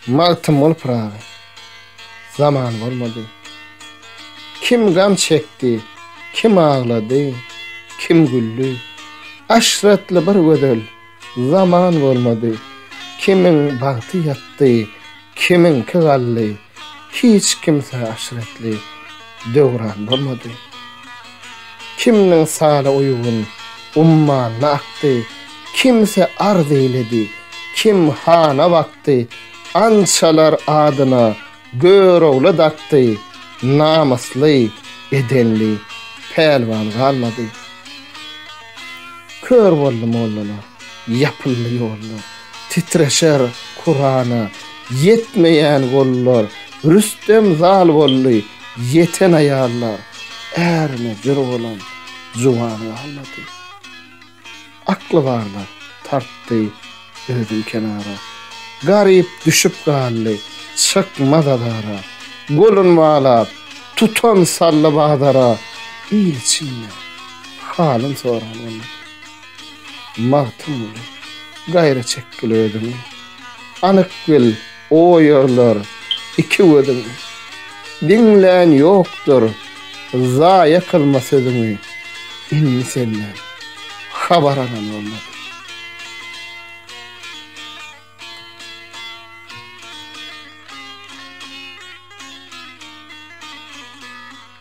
Magtymguly Pyragy Zaman bolmady Kim gam çekdi, kim aglady, kim güldi, Aşratly bir gözel zaman bolmady, Kimiň bagty ýatdy, Kimiňki galdy, hiç kimsä aşretli döwran bolmady. Kimniň saly uýgun, ummanyna akdy, kimsi arz eýledi, kim hana bakdy, ançalar adyna Görogly dakdy, namysly, edenli pälwan galmady. Kör boldy mollalar. Ýapyldy ýollar, titreşer kurana, Ýetmeýän gollar, Rüstem zal boldy, Ýeten aýallar, ärine jür bolan juwan galmady. Akly barlar tartdy özün kenara, Garyp düşüp galdy, çykmaz azara, Golun balap, tutan saldy bazara, Il içinde halyn soran bolmady. Magtymguly, gaýra çekgil özüňi. Anyk bil, o ýerler, iki gözüň. Diňlän ýokdur, zaýa kylma sözüňi. Indi senden, habar alan bolmady.